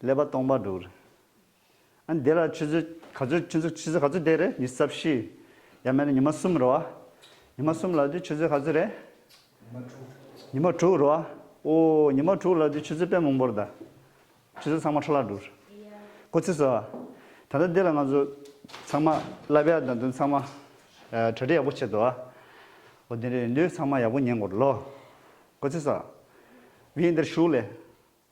ཀླད་པ་སྟོང་པར་འདུག། ཨ་འདི་ལ་ཆུ་ཚོད་ག་ཚོད་ཆུ་ཚོད་ཆུ་ཚོད་ག་ཚོད་བསྡད་རེད་ཉི་ས་བཞི། ཡར་མེད་ན་ཉི་མ་གསུམ་རེད་བ། ཉི་མ་གསུམ་ལ་དུས་ཆུ་ཚོད་ག་ཚོད་རེད། ཉི་མ་དྲུག། ཉི་མ་དྲུག་རེད་བ། ཨོ། ཉི་མ་དྲུག་ལ་དུས་ཆུ་ཚོད་དཔེ་མང་པོར་གདའ། ཆུ་ཚོད་ཚང་མ་ཁྲ་ལ་འདུག། ཀོ་ཚེ་བཟོ། ད་ལྟ་འདི་ལ་ང་ཚོ་ཚང་མ་ལབ་ཡག་དང་དོན་ཚང་མ་གྲ་སྒྲིག་ཡག་པོ་བྱེད་དོ་ཨ། ཨོ་དེ་འདྲ་ཡིན་དུས་ཚང་མ་ཡག་པོ་ཉན་དགོས་རོ། ཀོ་ཚེ་བཟོ། བི་ཡིན་འདིར་བཞུགས་ལེ།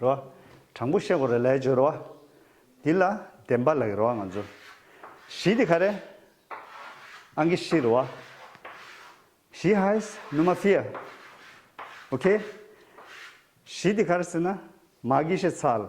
རོ། དྲང་པོ་ཤེས་གོ་རེ་ལས་བྱོས་རོ། འདི་ལ་བདེན་པ་ལགས་རོ་ང་ཚོ། གཞི་དེ་ག་རེ། ཨང་ཀི་ཤི་རོ། གཞི་ཧཱིས་ནུ་མ་ཕི་ཡ། ཨོ་ཁེ། གཞི་དེ་ག་རེ་ཟེར་ན་མ་ཀི་ཤེ་ཚལ།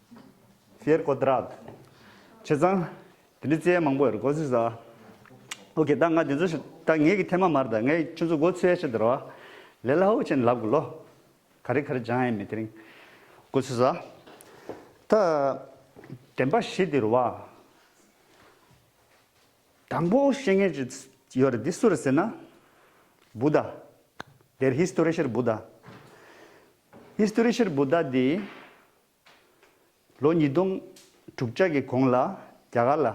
ཟེར་ཀོ་ད་རག། བྱས་ཙང། དེ་འདྲའི་རྩེད་ཡ་མང་པོ་ཡོད་རེད་གོ་ཟིག་ཟ། ཨོ་ཁེ་ད་ང་དེ་ཚོ་ཞིག་ད་ངེད་ཀྱི་ཐེ་མ་མར་ད་ངའི་ཁྱོད་ཚོ་སྒོ་ཚུད་ཡ་ཤི་དེར་བ། ལེ་ལ་ཧོ་ཅན་ལབ་དགོས་ལོ། ག་རེ་ག་རེ་སྦྱང་ཡ་མེད་དེ་རིང། གོ་ཚུད་ཟ། ད། དྲན་པ་ཤི་དེར་བ། དང་པོ་ཤེས་མཁན་ཅིག་ཡོད་རེད་དེ་སུ་རེད་ཟེར་ན། བུ་ད། དེར་ཧིས་ཏོ་རི་ཤེར་བུ་ད། ཧིས་ཏོ་རི་ཤེར་བུ་ད་དེ། ལོ་ཉིས་སྟོང་དྲུག་བརྒྱ་ཀྱི་གོང་ལ་རྒྱ་གར་ལ་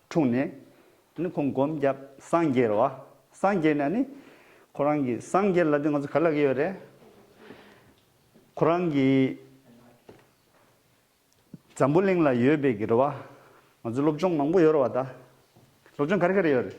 འཁྲུངས་ནས། ནི་ཁོང་སྒོམ་བརྒྱབ་སངས་རྒྱས་ར་བ་སངས་རྒྱས་ནས་ནི། ཁོ་རང་གི་སངས་རྒྱས་ལ་དེ་ང་ཚོ་ག་ལ་གི་ཡོད་རེད། ཁོ་རང་གི་འཛམ་བུ་གླིང་ལ་ཡོད་པའི་གི་ར་བ་ང་ཚོ་སློབ་སྦྱོང་མང་པོ་ཡོད་ར་བ་ད། སློབ་སྦྱོང་ག་རེ་ག་རེ་ཡོད་རེད།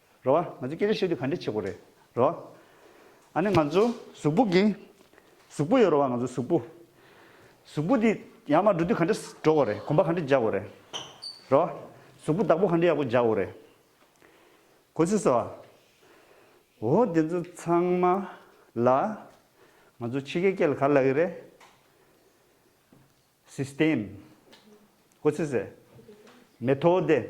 རེད་བ། ང་ཚོས་སྐད་ཆ་བཤད་དུས་ག་འདྲའི་བྱེད་སྒོ་རེད་རེད་བ། ཨ་ནི་ང་ཚོ་གཟུགས་པོ་གི། གཟུགས་པོ་ཡོད་རེད་བ་ང་ཚོ་གཟུགས་པོ། གཟུགས་པོ་དེ་ཡར་མར་འགྲོ་དུས་ག་འདྲ་འགྲོ་དགོས་རེད་གོམ་པ་ག་འདྲ་རྒྱག་དགོས་རེད་རེད་བ། གཟུགས་པོ་བདག་པོ་ག་འདྲ་ཡག་པོ་རྒྱག་དགོས་རེད་གོ་ཚུལ་སོགས་བ། འོ་དེ་ཚོ་ཚང་མ་ལ། ང་ཚོ་ཕྱི་རྒྱལ་སྐད་ལ་ག་ལ་གི་རེད། System། གོ་ཚུལ་སེ། Methode།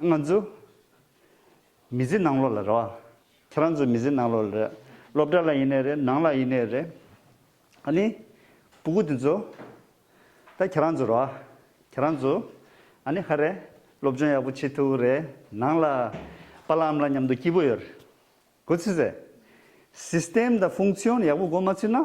ང་ཚོ་མི་ཟི་ནང་ལོག་ལ་རེད་བ། ཁྱེད་རང་ཚོ་མི་ཟི་ནང་ལོག་ལ་རེད། སློབ་གྲྭ་ལ་ཡིན་ནའི་རེད་ནང་ལ་ཡིན་ནའི་རེད། ཨ་ནི་སྤུ་གུ་དེ་ཚོ་ད་ཁྱེད་རང་ཚོ་རེད་བ། ཁྱེད་རང་ཚོ་ཨ་ནི་ཧ་རེ་སློབ་སྦྱོང་ཡག་པོ་བྱེད་ཐུབ་བོ་རེད་ནང་ལ་པ་ལ་ཨམ་ལ་མཉམ་དུ་སྐྱིད་པོ་ཡོད་རེད་གོ་ཚུལ་རེད། System དང Function ཡག་པོ་གོ་མ་ཚུལ་ན།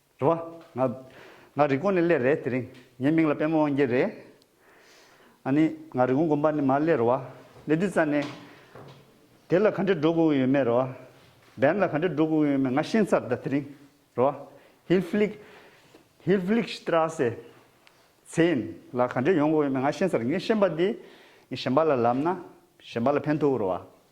རེད་བ། ང། ང་རི་ཀོང་ནས་སླེ་རེད་དེ་རིང། ངའི་མིང་ལ་པད་མོ་དབང་རྒྱལ་རེད། ཨ་ནི། ང་རི་ཀོང་དགོན་པ་ནས་མར་སླེ་རེད་བ། སླེ་དུས་རྩ་ནས། དེ་ལ་ག་འདྲའི་འགྲོ་དགོས་ཡོད་མེད་རེད་བ། བན་ལ་ག་འདྲའི་འགྲོ་དགོས་ཡོད་མེད་ང་ཤེས་ཚར་ད་དེ་རིང། རེད་བ། ཧིལ་ཕྷིལིག། Hilflichstrasse། ཚེན། ལ་ག་འདྲའི་ཡོང་དགོས་ཡོད་མེད་ང་ཤེས་ཚར་ངས་ཤེས་པ་དེ། ངས་གཞན་པ་ལ་ལབ་ན། གཞན་པ་ལ་ཕན་ཐོགས་རེད་བ།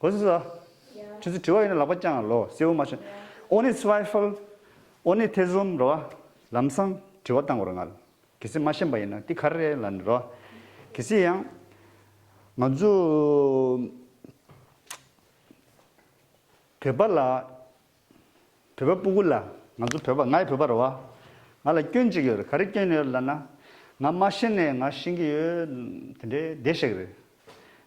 ཨོ་ཟི་ཟ། ཁྱེད་ཚོ་དྲི་བ་ཡོད་ན་ལག་པ་བརྐྱངས་ལོ་སེར་བོ་མ་ཆོད། Ohne Zweifel། ཨོ་ནི་ཐེ་ཚོམ་རེད་བ། ལམ་སང་དྲི་བ་བཏང་བར་ང། གལ་སྲིད་མ་ཤེས་པ་ཡིན་ན་འདི་ག་རེད་ལ་ནི་རེད་བ། གལ་སྲིད་ཡང། ང་ཚོ། བོད་པ་ལ། བོད་པ་སྤུ་གུ་ལ། ང་ཚོ་བོད་པ་ངའི་བོད་པ་རེད་བ། ང་ལ་སྐྱོན་གཅིག་ཡོད་རེད་ག་རེ་སྐྱོན་ཡོད་རེད་ལ་ན། ང་མ་ཤེས་ནས་ང་ཤེས་ཀྱི་ཡོད། དེ་འདྲའི་བདེ་གཤེགས་རེད།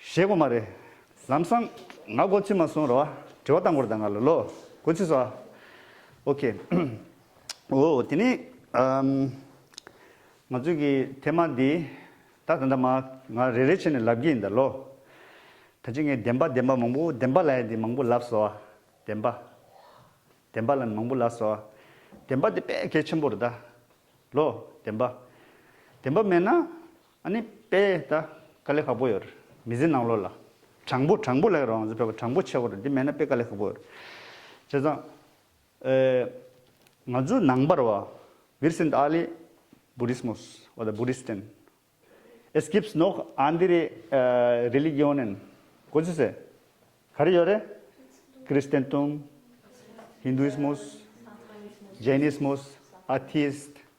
ཞེས་སྒོ་མ་རེད། ལམ་སང། ང་སྒོ་ཕྱི་མ་སོང་རོགས་ཨ། དྲི་བ་གཏང་སྐོར་དང་ང་ལ་ལོ། སྒོ་ཕྱི་སོང་ཨ། ཨོཁེ། འོ། དེ་ནི། ང་ཚོའི་གི་ཐེ་མ་འདི། ད་ད་ད་མ། ང་རེ་རེ་བྱས་ནས་ལབ་གི་ཡིན་ད་ལོ། ད་ཅི་ངས་བདེན་པ་བདེན་པ་མང་པོ་བདེན་པ་ལ་ཡ་འདི་མང་པོ་ལབ་སོ་ཨ། བདེན་པ། བདེན་པ་ལ་མང་པོ་ལབ་སོ་ཨ། བདེན་པ་འདི་དཔེ་གལ་ཆེན་པོ་རེད་ད། ལོ། བདེན་པ། བདེན་པ་མེད་ན། ཨ་ནི་པའི་ད་ཀ་ལི་ཧ་པོ་ཡོར་མི་ཟི་ནང་ལོ་ལ། དྲང་པོ་དྲང་པོ་ལ་ཡོ་རང་ཟི་པའི་པ་དྲང་པོ་ཆེ་བོར་འདི་མེད་ན་པའི་ཀ་ལི་ཧ་པོ་ཡོར། བྱས་ཙང། ཨེ། ང་ཚོའི་ནང་པར་བ། བིར་སིན་ད་ཨ་ལི། བུ་རིས་མོ་སི། བ་ད་བུ་རིས་ཏན། ཨེས་ཀིབས་ནོག་ཨ་འདི་རི། རི་ལི་གི་ཨོ་ནན། གོ་ཚི་སེ། ག་རི་ཡོ་རེ། ཀི་རིས་ཏན་ཏུམ། ཧིན་དུ་ཨིས་མོ་སི། ཇེ་ནིས་མོ་སི། ཨ་ཐིས་ཏི།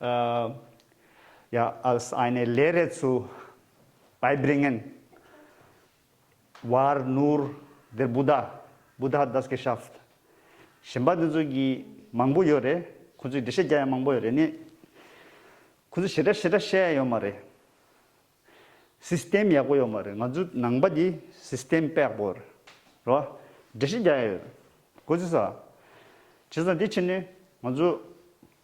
ཡ་ཨཱལས་ཨཱི་ནའི་ལས་རེས་ཚུལ Beibringen བར་ནུར་འདིར་བུ་དཱ་བུ་དཱ das Geschäft གཞན་པ་འདི་ཚོ་གི་མང་པོ་ཡོད་རེད་ཁོང་ཚོའི་འགྲེལ་བཤད་རྒྱ་ཡང་མང་པོ་ཡོད་རེད་ནི་ཁོང་ཚོ་ཞེ་དྲག་ཞེ་དྲག་བཤད་ཡ་ཡོད་མ་རེད System ཡག་པོ་ཡོད་མ་རེད་ང་ཚོའི་ནང་པ་དེ System པེག་པོ་རེད་རེད་བ་འགྲེལ་བཤད་རྒྱ་ཡ་ཡོད་གོ་ཅི་ས་ཇི་ས་དེ་ཕྱིར་ནི་ང་ཚོ་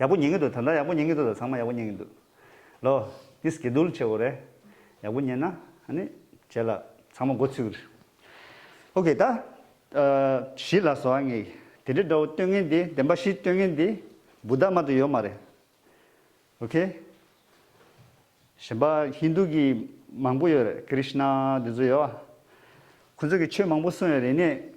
ཡག་པོ་ཉན་གྱི་འདུག་ད་ལྟ་ཡག་པོ་ཉན་གྱི་འདུག་ད་ཚང་མ་ཡག་པོ་ཉན་གྱི་འདུག་ལོ། འདི Schedule བྱས་འོ་རེད། ཡག་པོ་ཉན་ན་ཨ་ནི་བྱས་ལ་ཚང་མ་འགོ་ཚུགས། ཨོ་ཀེ་ད། བཞི་ལ་སོ་ཨ་ངེ། དེ་འདྲའི་འདྲ་བོ་སྟོན་ངེས་འདི་བདེན་པ་བཞི་སྟོན་ངེས་འདི། བུ་དར་མ་དུ་ཡོད་མ་རེད། ཨོ་ཀེ། གཞན་པ་ཧིན་དུ་གི་མང་པོ་ཡོད་རེད Krishna འདི་ཚོ་ཡོད། ཁོང་ཚོ་གི་ཆོས་མང་པོ་གསུངས་ཡོད་རེད་ནས།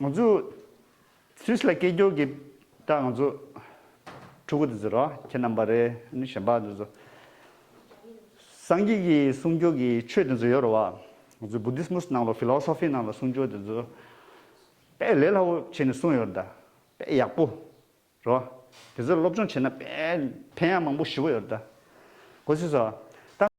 ང་ཚོས Swiss ལ་སྐད་སྐྱོར་གྱི་སྐྲ་ང་ཚོས་ཕྲུ་གུ་དེ་ཚོ་རོ་ཁྱེད་རྣམ་པ་རེ་ནི་གཞན་པ་དེ་ཚོ་སངས་རྒྱས་ཀྱི་གསུང་སྐྱོར་གྱི་ཆོས་དེ་ཚོ་ཡོད་རོ་བ་ང་ཚོས Buddhismus ནང་ལོ Philosophy ནང་ལོ་གསུང་སྐྱོར་དེ་ཚོ་དཔེ་ལས་སླ་བོ་བྱས་ནས་གསུང་ཡོད་རོ་ད་དཔེ་ཡག་པོ་རོ་དེ་ཚོ་སློབ་སྦྱོང་བྱས་ན་དཔེ་ཕན་ཡང་མང་པོ་ཞུ་བོ་ཡོད་རོ་ད་གོ་ཤེས་སོ་ད།